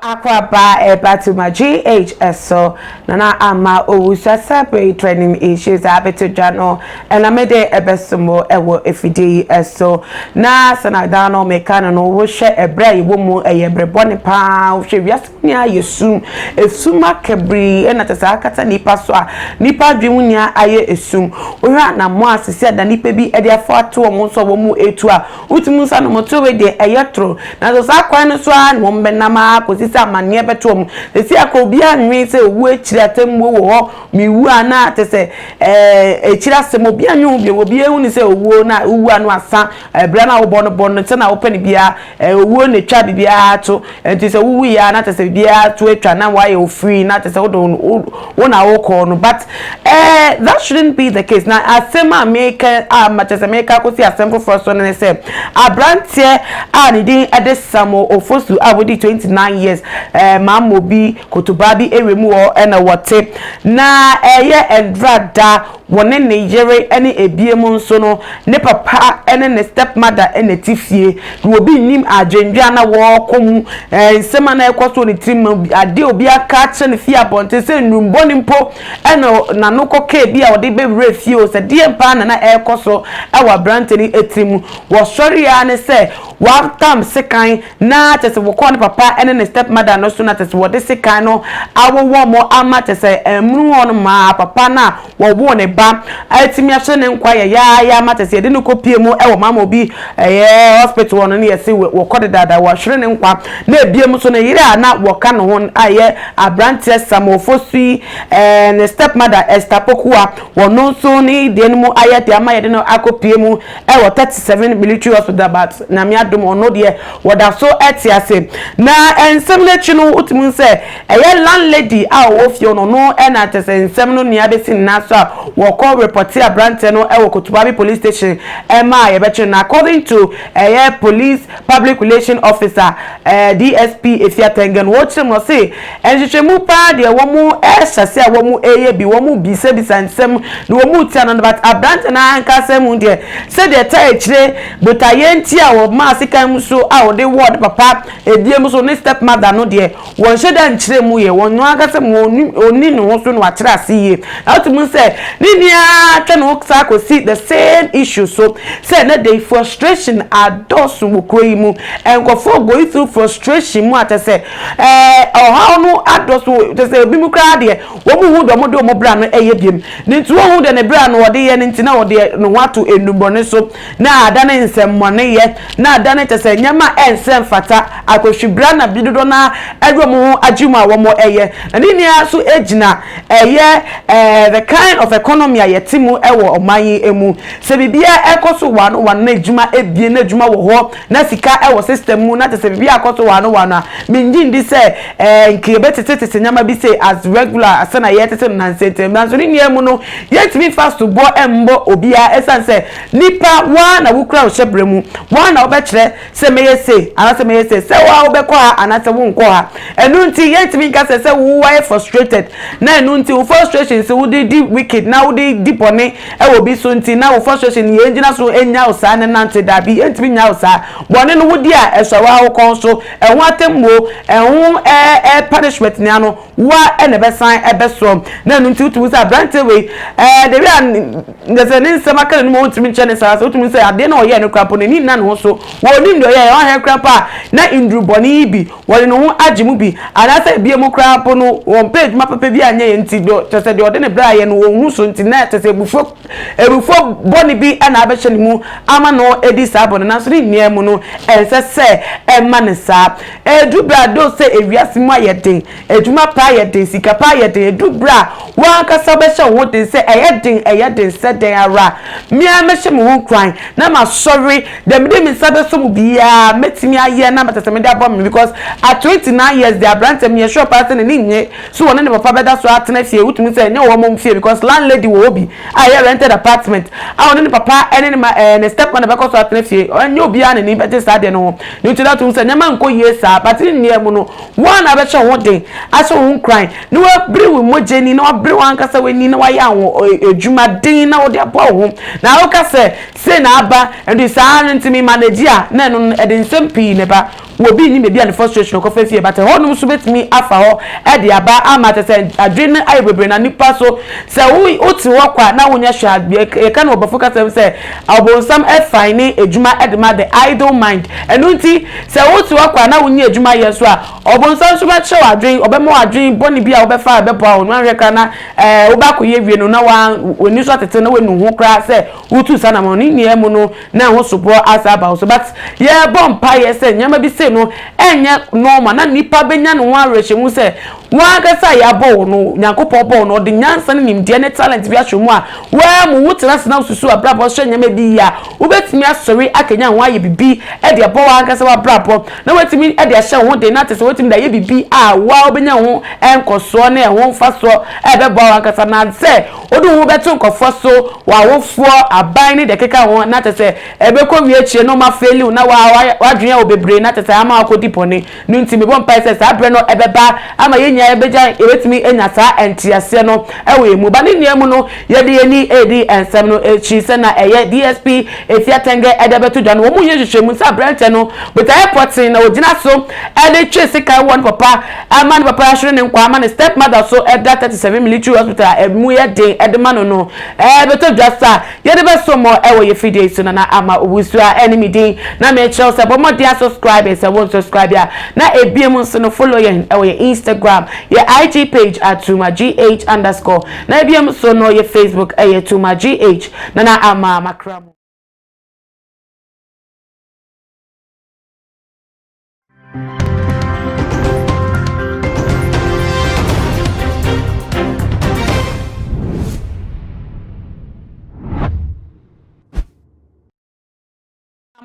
Akwaba Ebatuma GHS so nana ama owusa sabre training issues abeto dwa no ɛna mede ɛbɛsomo ɛwɔ efidie yi ɛso na sanadan no meka no no wohwɛ ɛbrɛ a yɛwɔ mu ɛyɛ brɛ bɔne paa wohwɛ wiase Sɛnea ayɛ sum, esum akabii na kyerɛ sɛ akata nnipa so a nnipa adwene mu nyinaa ayɛ esum. Wohwɛ anammɔn a seesei ada nnipa bi de afa ato wɔn so a wɔretu a, wotumi hu sɛ anammɔntuo wei deɛ ɛyɛ toro. Nanso saa kwan no so ara na wɔbɛnam ara kɔsi sɛ amanneɛ bɛto wɔn. Seesei a koraa obiara nnwene sɛ owuo akyiri atemmuo wɔ hɔ, mewu a na kyerɛ sɛ ɛɛ akyiri asɛm, obiara nnwene ho bio. Obiara ahu no sɛ owuo no a, wowu a na wɔasa. Bere a na wobɔ no bɔ no sɛnea wopɛ no biara, ɛyɛ owuo na etwa biribiara to. Enti sɛ wowui a, na kyerɛ sɛ biribiara to atwa, na woayɛ wo free, na kyerɛ sɛ wode wo wo na wokɔ no. But eh, that shouldn't be the case. Na asɛm a meka a ma kyerɛ sɛ meka kɔsi asɛm foforɔ so no ne sɛ, aberanteɛ a ne din de Samuel Ofosu a wadi 29 years, eh, Mammɔ bi, Kotobaa bi ewiem hɔ na wɔte. Na ɛyɛ Ndra da. Wɔne ne yere ne abiem nso no, ne papa ne ne stepmother na ɛte fie. Na obi nnim adwendwen a na wɔrekɔ mu, nsɛm a na ɛrekɔ so wɔ ne tirim, ade a obi aka akyerɛ no fii abɔnten sɛ nnurubɔne mpo na n'ano kɔkaa bi a ɔde bɛwuraa fie o. Sɛ deɛn paa na na ɛrekɔ so wɔ aberante no tirim. Wɔsɔre ara ne sɛ wɔatam sekan. na kyɛsɛ wɔkɔɔ ne papa ne ne step mother no so na kyɛsɛ wɔde sekan no awo wɔn ama kyɛsɛ ɛmunu hɔ no maa papa no a wɔwoo ne ba atumi ahyɛ ne nkwa yɛyaaya ama kyɛsɛ yɛde no kɔ pie mu wɔ mama obi ɛyɛ hospital hɔ no ne yɛse wɔkɔ dedaada wɔahwere ne nkwa na ebiem nso ne yere a na wɔka ne ho a yɛ abranteɛ samofo so yi ne step mother Esther Pokuwa wɔn nso ne deɛ no mu ayɛ de ama yɛde no akɔ pie mu wɔ thirty seven military hospital but nyame adom ɔno deɛ wɔda so te ase na nsɛm no akyi no wotumi hu sɛ ɛyɛ landlady a ɔwɔ fie no no ɛna kyɛ sɛ nsɛm no nea bɛsi nna so a wɔkɔ repɔte aberanteɛ no ɛwɔ kotobabi police station ɛma a yɛbɛkyere no according to ɛyɛ police public relation officer eh, dsp efi atɛngɛ no wɔkyerɛ mu no se Nhwehwɛmu paa deɛ wɔn ɛhyɛ sɛ wɔn ɛyɛ bi, wɔn bisa bisa nsɛm na wɔn tia no no but abranteɛ no ankasa mu deɛ sɛdeɛ ɛtaa akyire botaeɛ nti a ɔmaa sekan mu so a ɔde wɔɔ ne papa ɛdie mu so ne step mother no deɛ wɔn hyɛ da nkyerɛ mu yɛ wɔn ankasa mu ɔni ne ho so na wakyerɛ ase yie na wote mu sɛ ne ni ara twɛ no saa kɔsi the same issue so sɛ ɛnɛ de frustration adɔso wɔ kuro yi mu nkurɔfoɔ going through frustration mu atɛ sɛ Ɛɛ ɔhaw no adɔ so kyɛ sɛ ebi mu koraa deɛ wɔn mu hu deɛ wɔn de wɔn bra no ɛyɛ biam ne nti wɔn hu deɛ ne bra no ɔde yɛ ne nti na ɔde ne ho ato nnubɔne so na adane nsɛmmɔne yɛ na adane kyɛ sɛ nneɛma a ɛnsɛ mfata akɔhwi bra na bi dodoɔ naa ɛde wɔn ho agye mu a wɔn ɛyɛ na ne nyinaa so gyina ɛyɛ ɛɛ the kind of economy a yɛte mu ɛwɔ ɔman yi mu sɛ biribiara ɛkɔ so wɔn wɔn na adwuma ɛbie na adwuma wɔ hɔ. Na sika wɔ system mu na kyɛ sɛ biribi akɔto waano waano a, mennye nndi sɛ ɛɛ nka yɛbɛtetetete nneɛma bi sei as regular sɛ na yɛretete no nansa ntam. Nanso ne nyinaa mu no, yɛrentumi mfa soboɔ mmɔ obiara ɛsiane sɛ nipa wo ara na wokura wo hyɛbrɛ mu, wo ara na wobɛkyerɛ sɛ mɛyɛ sei anaasɛ mɛyɛ sei, sɛ wo ara wobɛkɔ ha anaasɛ worenkɔ ha. Ɛno nti yɛrentumi nka sɛ sɛ wo ayɛ frustrated na ɛno nti wo frustrations wode di wicked na wode di bɔne Ɛwɔ bi so nti na wo frustration no yɛ ngyina so nyaw saa ne nante dabi yɛntumi nyaw saa bɔne no wodi a ɛsɔre woa wo kɔn so ɛho atemmuo ɛho ɛɛ punishment ne ano woa ɛna ɛbɛsan ɛbɛsɔ na ɛno nti wotumi hu sɛ abranteɛ wei ɛɛ the way a ngyɛsɛ ne nsɛm aka n'anim a wontumi nkyɛ ne saa sɛ wotumi hu sɛ adeɛ na ɔyɛɛ no kora mpo n'ani nna ne ho so wɔnim deɛ ɔyɛɛ ɔhɛ kora mpo a na nduru bɔne yi bi wɔde ne ho agye mu bi, anaasɛ ebia mu koraa mpo no wɔmpɛ adwuma papa bi anyɛ yɛn nti, kyerɛ sɛ deɛ ɔde ne berɛ ayɛ no ɔnhu so nti, na kyerɛ sɛ abufuo abufuo bɔne bi na abɛhyɛ ne mu ama no adi saa bɔne no, nanso ne nyinaa mu no ɛnsɛ sɛ ɛma no saa. Ɛduru berɛ a though sɛ ewiase mu ayɛ den, adwuma pa ayɛ den, sika pa ayɛ den, ɛduru berɛ a wo ankasa wobɛhyɛ wo ho den sɛ ɛyɛ den ɛyɛ den sɛ dɛn ara, me ara mɛhyɛ me ho nkuran na masɔre Deɛ mede me nsa bɛsɔ mu biara mɛtumi ayɛ na mɛsɛ sɛ mede aboa me because at twenty nine years deɛ aberanteɛ meyɛ sure paa sɛ n'ani nnye so ɔne ne papa bɛda so atena fie wotumi sɛ ɛnyɛ wɔn fie because landlady wɔ hɔ bi a ɛyɛ rented apartment a ɔne ne papa ne ne ma ɛɛ ne step mother bɛkɔ so atena fie ɛnyɛ obiara na ani bɛgye saa deɛ no ho ne nti dɛ to sɛ nneɛma nkɔ yie saa but ne nneɛ mu no wɔn a na abɛhyɛ ho den ahyɛ ho nkuran na wabere wo mogya ni na wabere wɔn ankasa w'ani na wayɛ ahoɔ adwuma den na wɔde aboa wo ho na woka sɛ Sei na aba, ɛno nti saa ara no nti me manage a na ɛno no ɛde nsɛm pii na ɛba, wɔ obi nnim baabi a ne frustration kɔ fa fie but ɛhɔ nom nso bɛtumi afa hɔ de aba ama kyerɛ sɛ adwene no ayɛ bebree na nipa so sɛ wo wo te hɔ kwa na wo nyɛ hwɛ a yɛ yɛka no wɔ bɔfo kasa mu sɛ ɔbonsam fine ne adwuma de ma the idle mind ɛno nti sɛ wo te hɔ kwa na wo nyɛ adwuma yɛ nso a ɔbonsam nso bɛkyerɛ wo adwene ɔbɛma wo adwene bɔne bi a wobɛfa a ɛbɛboa wo no anhwɛ kra na ɛɛ wobɛakɔ yɛ wie no na wa w'ani so atete na w'anu ho koraa sɛ Wotu saa anammɔn no nyinaa mu no, na ɛho soboɔ asan aba wo so. But yɛrebɔ mpaeɛ sɛ nneɛma bi sei no ɛnyɛ normal na nipa bɛnya ne ho awerɛhyɛmu sɛ wɔn ankasa a yɛabɔ wo no, Nyankopɔn bɔɔ wo no, ɔde nyansa ne nimdeɛ ne talent bi ahyɛ wo mu a woammu. Wotena ase na wosusu w'abrabɔ hyɛ nneɛma bi yie a, wobɛtumi asɔre akanyan ho ayɛ biribi de abɔ wo ankasa w'abrabɔ na woatumi de ahyɛ wo ho den na te sɛ woatumi de ayɛ biribi a wo ara wobɛnya ho nkɔsoɔ ne ɛho mfasoɔ a ɛbɛboa wo ankasa na sɛ Wode wo ho bɛto nkurɔfoɔ so, w'awofoɔ, aban ne deɛ ɛkeka ho, na kyerɛ sɛ ɛbɛkɔwie akyire no ma faili wo na w'ayɛ w'adwene wɔ bebree na kyerɛ sɛ ama w'akɔdi bɔne no nti mebɔ mpaeɛ sɛ saa berɛ no ɛbɛba ama yɛn nyinaa yɛbɛgya yɛbɛtumi anya saa nteaseɛ no wɔ yɛn mu ba ne nyinaa mu no yɛde yɛn ani redi nsɛm no akyi sɛ na ɛyɛ DSP Efia Tenge ɛde abɛto dwa no wɔn yɛ nhwehwɛmu sɛ aberɛnteɛ no botaeɛ pɔtee na ɔgyina so ɛde twe sekan wɔ ne papa Ɛma ne papa hwere ne nkwa ma ne stepmother so da thirty seven military hospital a ɛmu yɛ den de ma no no bɛtɔ dwa sa yɛde bɛsom mo wɔ yɛ fidie yi so Nana Ama Owusu a ɛne me din na merekyerɛ wo sɛ bɔ mmɔden a subscribe sɛ wo nsubscribe a na ɛbie mu nso no follow yɛn wɔ yɛ Instagram yɛ IG page at tumagh underscore na ɛbie mu so no yɛ Facebook ɛyɛ tumagh Nana Ama makra mu.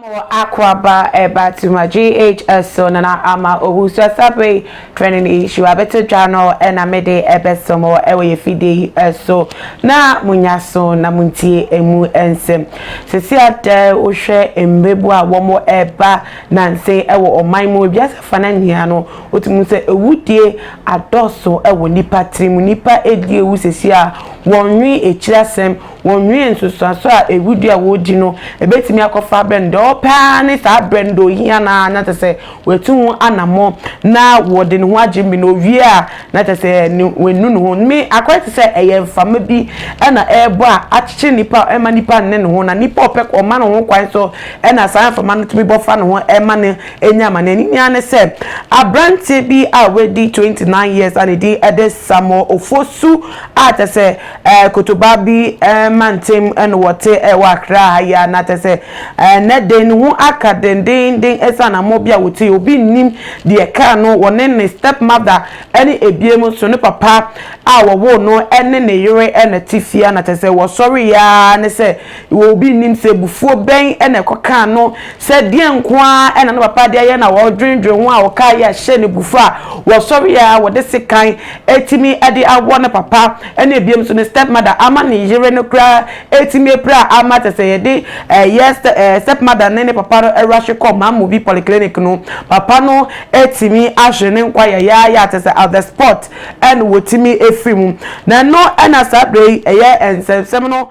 Mo akwaba ɛbatuma GHS so na na ama owusu sabe training issue abɛto dwa no ɛna mede ɛbɛsɛ mo ɛwɔ yɛ fidie yi ɛso na munya so na muntie emu nsɛm sisi adɛ wohwɛ mbebu a wɔn ɛba Nanse wɔ ɔman mu, wiase afanan nyinaa no, wotumi hu sɛ awudie adɔɔso wɔ nnipa tirim. Nnipa redi awu seesei a, wɔnnwen akyiri asɛm, wɔnnwen nsunsuanso a awudie a wɔredi no bɛtumi akɔfa abrɛ no. Deɛ wɔpɛ ara ne saa berɛ no, deɛ ɔhia no ara na kyerɛ sɛ watu ho anammɔn na ɔde ne ho agye me na ɔwie a na kyerɛ sɛ ne wanu ne ho. Me akɔyɛ te sɛ ɛyɛ mframa bi na ɛrebɔ a akyekyere nnipa ɛmma nnipa nne ne ho na nnipa ɔpɛ ɔma ne ho kwan so Ɛnna saa mframa no tumi bɔ fa ne ho ma no nya amanneɛ. Ne nua ne sɛ, aberanteɛ bi a wadi 29 years a ne din de Samuel Ofosu a kyɛ sɛ eh, Kotobaa bi eh, mantam eh, na wɔte eh, wɔ Accra ha yi a na kyɛ sɛ eh, nnɛ de ne ho aka dendeenden ɛsiane ammɔ bi a wɔtui. Obi nnim deɛ ɛkaa no, wɔne ne stepmother ne ebiem nso ne papa a wɔwoo no ne ne yere na te fie a na kyɛ sɛ wɔsɔreeɛ ara ne sɛ Wɔ obi nnim sɛ abufuo bɛn na ɛkɔkaa no sɛ deɛn nko ara na ne papa de ayɛ na ɔredwendwen ho a ɔkaa yei a hyɛɛ no abufuo a wɔsɔreɛ ara wɔde sekan atumi de awɔ ne papa ne biom nso ne step mother ama ne yere no koraa atumi apira ama kyɛ sɛ yɛde ɛyɛ step mother ne ne papa no awurahwe kɔ Mamobi polyclinic no papa no atumi ahwere ne nkwa yɛyɛayɛ kyɛ sɛ at the spot ɛna wɔtumi afiri mu na ɛno ɛna saa berɛ yi ɛyɛ nsɛmsɛm no